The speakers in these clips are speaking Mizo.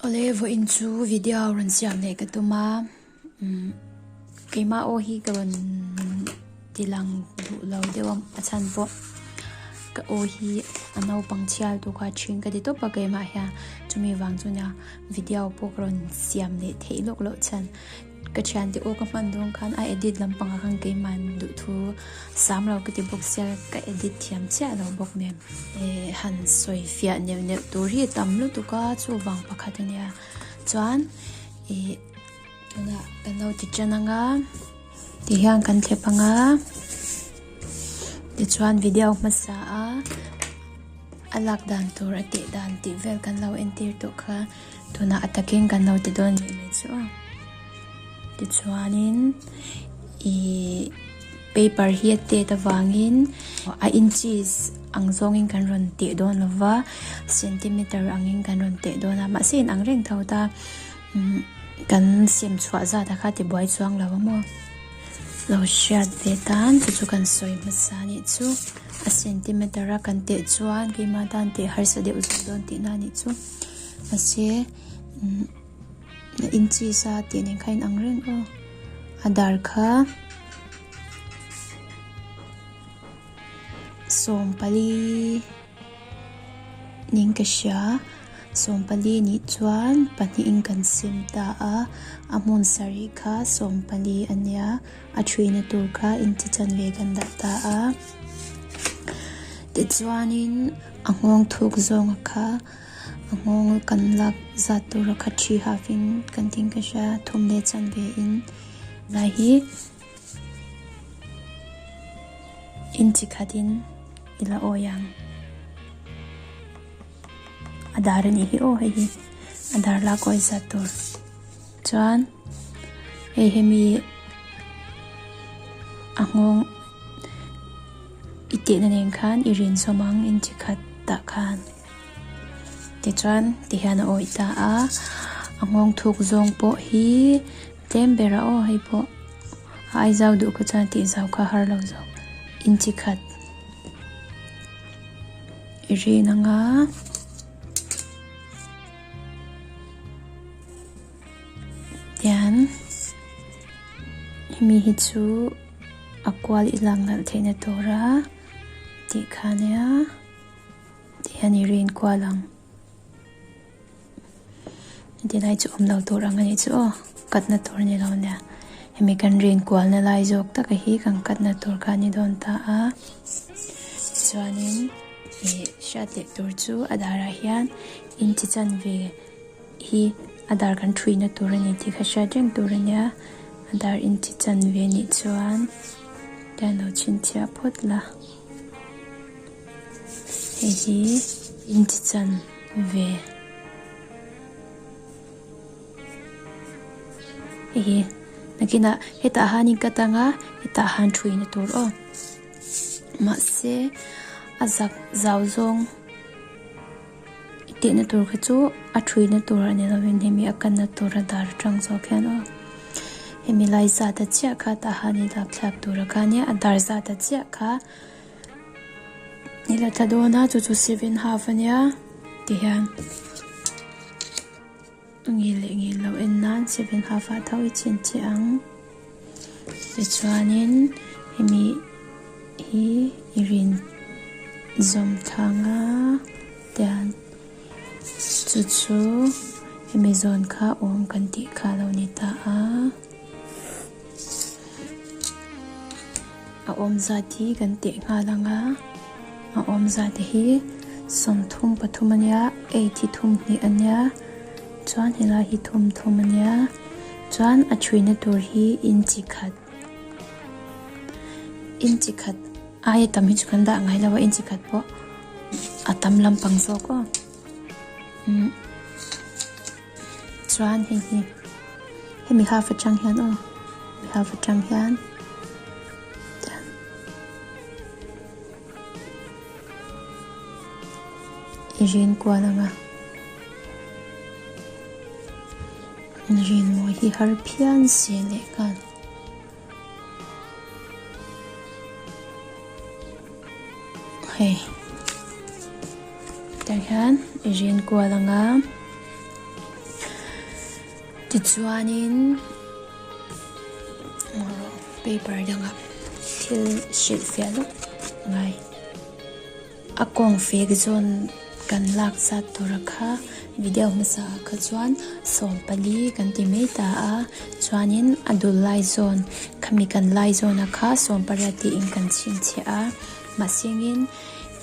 Awle vawh in chu video rawn siam leh ka tuma um keima aw hi ka rawn tilang duh lo deuh ang a chhan pawh ka aw hi a naupang chial tu kha thin ka ti tawp a keima hian chumi vang chuan video pawh ka rawn siam leh theih lawk lawk chhan Ka thian teh u ka hman dawn khan a edit lampang ah khan keiman duh thu sam lo ka ti bawk sia ka edit thiam chiah lo bawk nen e han sawi fiah neuh neuh tur hi tam lutuk a chuvang pakhat a nia chuan e tuna kan lo ti tan ang a ti hian kan thlep ang a tichuan video hmasa a a lak dan tur a teh dan tih vel kan lo entir tawh kha. Tunah a takin kan lo ti dawn nih mai chu a. Tichuanin ih paper hi a tet avangin a inches ang zawngin kan rawn teh dawn lo va, centimeter angin kan rawn teh dawn a. Mahse in ang reng tho ta, umm kan siam chhuah zat a kha ti buai chuang lo a maw? Lo hriat ve tan chu chu kan sawi hmasa a nih chu. A centimeter a kan teh chuan keimah tan teh harsa deuh zet dawn tihna a nih chu. Mahse, in chi sa tih nen kha in ang reng aw. A dar kha Sawmpali nen ka hria. Sawmpali nih chuan pahnihin kan sim ta a. A hmun sarih kha Sawmpali a nia. A ṭhina tur kha inchi chan ve kan dah ta a, tichuanin a nghawng thuk zawnga kha a nghawng kan lak zat tura kha ṭhi hafin kan tin ka hria, thum leh chan ve in lai hi inchi khatin i la awi ang. A dar a nih hi aw, hei hi a dar lak awi zat tur. Chuan hei hemi a nghawng i tihna nen khan i rinsawm ang in chi khat tah khan. Tichuan ti hian a awih ta a, a nghawng thuk zawng pawh hi tlem ber a aw hei pawh a ai zau duh kha chuan tih zau kha har lo zawk in chi khat i rin ang a. Tian hemi hi chu a kual i lak nalh theihna tur a tih kha nia tih hian i rin kual ang ti lai chu awm lo tur ang a ni chu aw katna tur ni lo nia hemi kan rin kualna lai zawk tak a hi kan katna tur kha a ni dawn ta a tichuanin. I hriat leh tur chu a darah hian inchi chanve hi a dar kan thuihna tur a ni tih kha hriat reng tur a nia. A dar inchi chanve nih chuan ka lo chhinchhiah phawt la. Hei hi inchi chanve. Hei hi. Nakinah hetah hanin ka tang a, hetah han thuihna tur aw. Mahse, a zak zau zawng i tehna tur kha chu a ṭhuina tur a ni lovin hemi a kanna tur a dar aṭang zawk hian aw. Hemi lai zata chiah kha tahan i lak thlak tura kha nia, a dar zata chiah kha i la thla dawn a, chu chu seven half a nia, ti hian. Ngil leh ngil lo en nan seven half ah tho i chhin chiah ang. Tichuanin hemi hi i rin zawm thlang a tiang. Chu chu hemi zawn kha awm kan tih kha lo ni ta a. A awm zat hi kan teh nghal ang a, a awm zat hi sawm thum pathum a nia, eight hi thum hnih a nia, chuan helai hi thum thum a nia, chuan a chhuina tur hi inchi khat, inchi khat aia tam hi chu kan dah ngai lo a, inchi khat pawh a tam lampang zawk aw. Chuan hei hi, hemi half atang hian aw, mi half atang hian tiang i rin kual ang a, rinmawi hi har phian si leh khan. Hei. Tah hian i rian kual ang a. Tichuanin paper dangah thil hrilh fiah lutuk ngai. A kawng fek zawn kan lak zat tura kha video hmasa ah kha chuan sawm pali kan ti mai ta a, chuanin a dul lai zawn khami kan lai zawn a kha sawm pariat tiin kan chhin chhe a, mahse ngin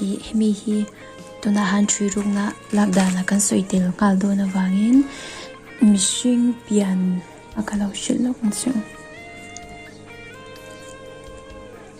i hemi hi tunah han hrui ruk na lak dan ah kan sawi tel nghal dawn avangin mihring pian a ka lo hrilh lawk ang chu.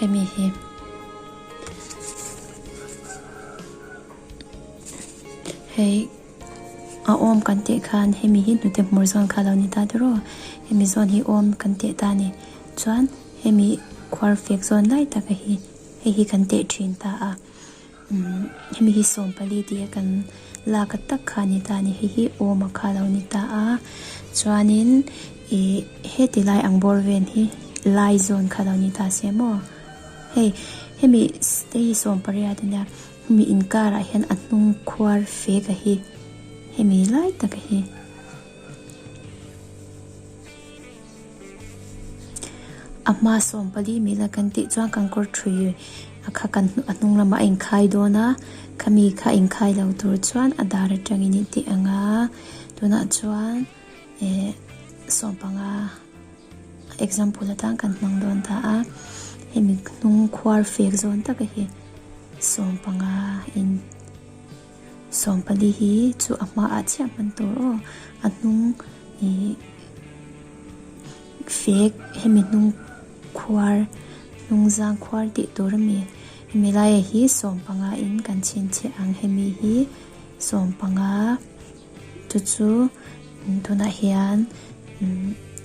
Hemi hi hei a awm kan tih khan hemi hi hnute hmur zawn kha lo ni ta tiraw hemi zawn hi awm kan tih ta a ni chuan-- Hemi khuar fek zawn lai tak a hi, hei hi kan teh thin ta a, umm hemi hi sawm pali tih a kan la ka tak kha a ni ta a ni, hei hi awma kha a lo ni ta a, chuanin ih heti lai ang bawr ven hi lai zawn kha a lo ni ta se maw, hei hemi te hi sawm pariat a nia, hemi inkar ah hian a hnung khuar fek a hi hemi lai tak a hi. A hma sawm pali mila kan tih chuan kan kawr thui a kha kan a hnung lamah a inkhai dawn a, khami kha a inkhai lo tur chuan a dar atangin i tih ang a, tunah chuan eh sawm panga example atan kan hmang dawn ta a, hemi hnung khuar fek zawn taka hi sawm panga in. Sawmpali hi chu a hma ah chiah hman tur aw, a hnung ihh fek hemi hnung khuar, hnung zang khuar tih tur a mi. Hemi laia hi sawm panga in kan chhin chhe ang, hemi hi sawm panga chu chu tunah hian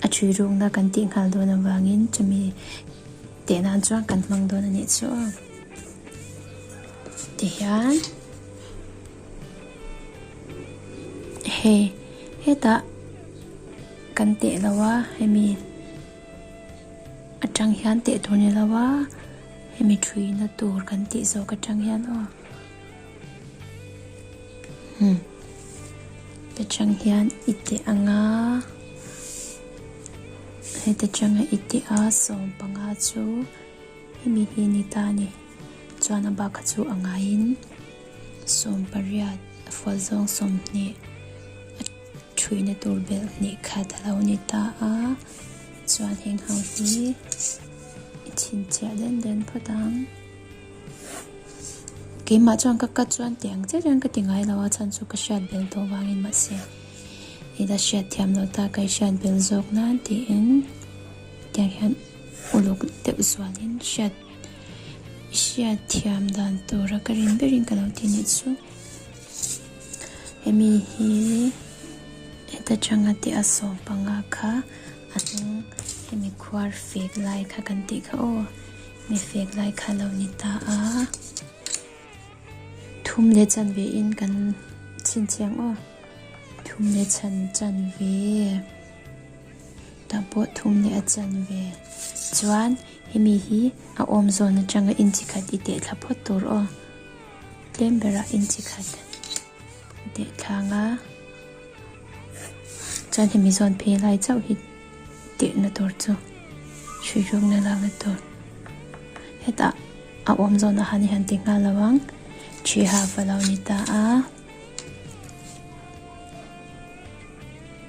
a ṭhi rukna kan tih nghal dawn avangin chumi teh nan chuan kan hmang dawn a nih chu aw. Ti hian hei hetah kan teh lo a hemi atang hian teh tur ni lo a hemi thuihna tur kan tih zawk atang hian aw hmm te tang hian i teh ang a hete tanga i teh a sawmpanga chu hemi hi ni ta a ni. Chuan a bakah chu a ngaiin sawm pariat fual zawng sawm hnih a thuihna tur belh hnih khat a lo ni ta a, chuan heng ho hi i chhinchhiah den den phawt ang. Keimah chuan ka cut chuan tih ang chiah chuan ka ti ngai lo a, chhan chu ka hriat belh tawh vangin mahse i la hriat thiam lo ta, ka i hriat belh zawk nan tiin tiang hian uluk deuh zualin hriat. I hriatthiam dan tura ka rin berin ka lo ti nih chu hemi hi heta tanga teh a sawm panga kha a hnung hemi khuar fek lai kha kan tih kha aw mi fek lai kha lo ni ta a thum leh chan ve in kan chin chiang aw thum leh chan chan ve ta pawh thum leh a chan ve chuan Hemi hi a awm zawn atanga inchi khat i teh thla phawt tur aw. Tlem berah inchi khat i teh thlang a. Chuan hemi zawn phei lai chauh hi tehna tur chu hruihrukna lakna tur. Hetah a awm zawn ah hian han ti nghal lo ang. Thi half a lo ni ta a.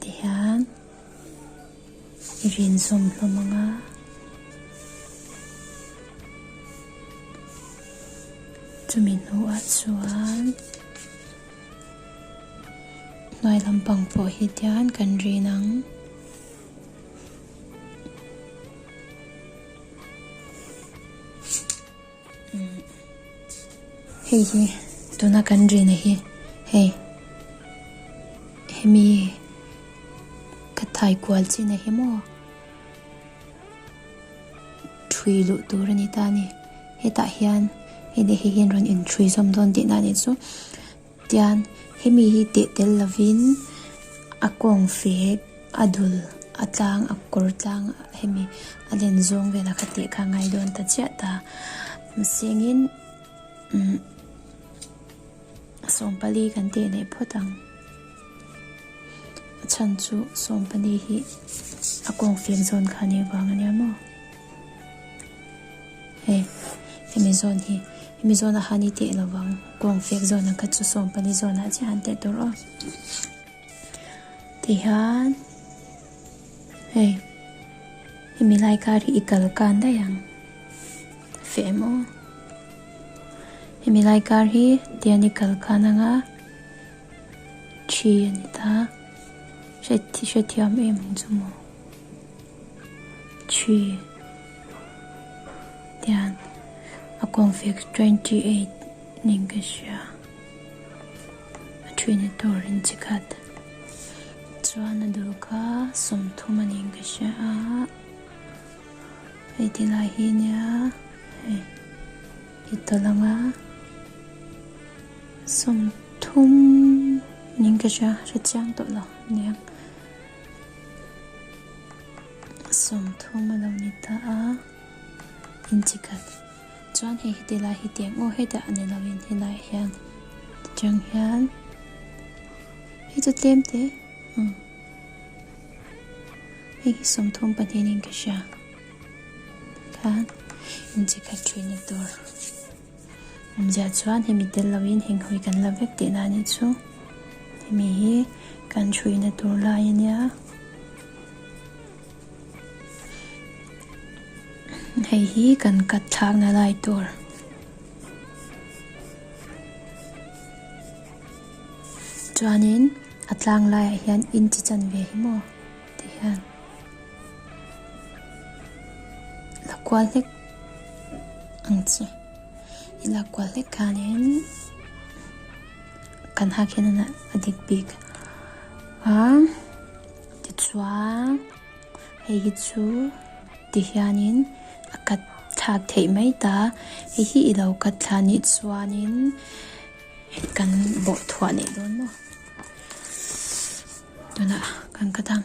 Tihian i rinzawm hlawm ang a. Chumi hnuah chuan hnuai lampang pawh hi tihian kan rin ang. Hei hi tuna kan ri na hi hei hemi ka thai kual chi na hi maw thui luh tur ani ta ni hetah hian hei dei hi hian rawn in thui zawm dawn tih na ni chu. Tian, hemi hi teh tel lovin a kawng fe, a dul, a tlang, a kawr tlang hemi a len zawng vela kha teh kha a ngai dawn ta chiah ta. Masengin umm sawmpali kan teh leh phawt ang. A chhan chu sawmpali hi a kawng fek zawn kha a nei vang ania maw? Hei hemi zawn hi hemi zawn a han i teh lo vang. Kawng fek zawn ang kha chu sawm pali zawn ah chiah a han teh tur aw. Ti hian hei hemi lai kar hi i kal kan daih ang. Fe em aw. Hemi lai kar hi tian i kal kan ang a. Thi a ni ta. Hre thiam em ang chu maw. Thi tian a kawng fik twenty eight ning ka hria a thina tur in chi khat chuan a dul kha sawmthum a ning ka hria a hei ti lai hi nia hei i tawlh ang a sawmthum ning ka hria hre chiang tawh lo nia. Sawmthum a lo ni ta a, in chi khat chuan hei heti lai hi tiang aw hetah a ni lo in he lai hian ti chang hian hei chu tlem te hmm hei hi sawmthum pahnihin ka hria khan in chi khat thin a tur. Awmzia chuan hemi tel loin henghawi kan la vek teh nan hi chu hemi hi kan hruyna tur lai a nia. Hei hi kan cut thlakna lai tur. Chuanin a tlang laiah hian in chi chan ve hi maw? Ti hian la kual hlek ang chi. I la kual hlek hianin kan hakhian a dik bik a. Tichuan hei hi chu ti hianin a kat thlak theih mai ta. Hei hi i lo kat thla nih chuanin kan bawhthluah leh dawn maw? tunah kan ka dang.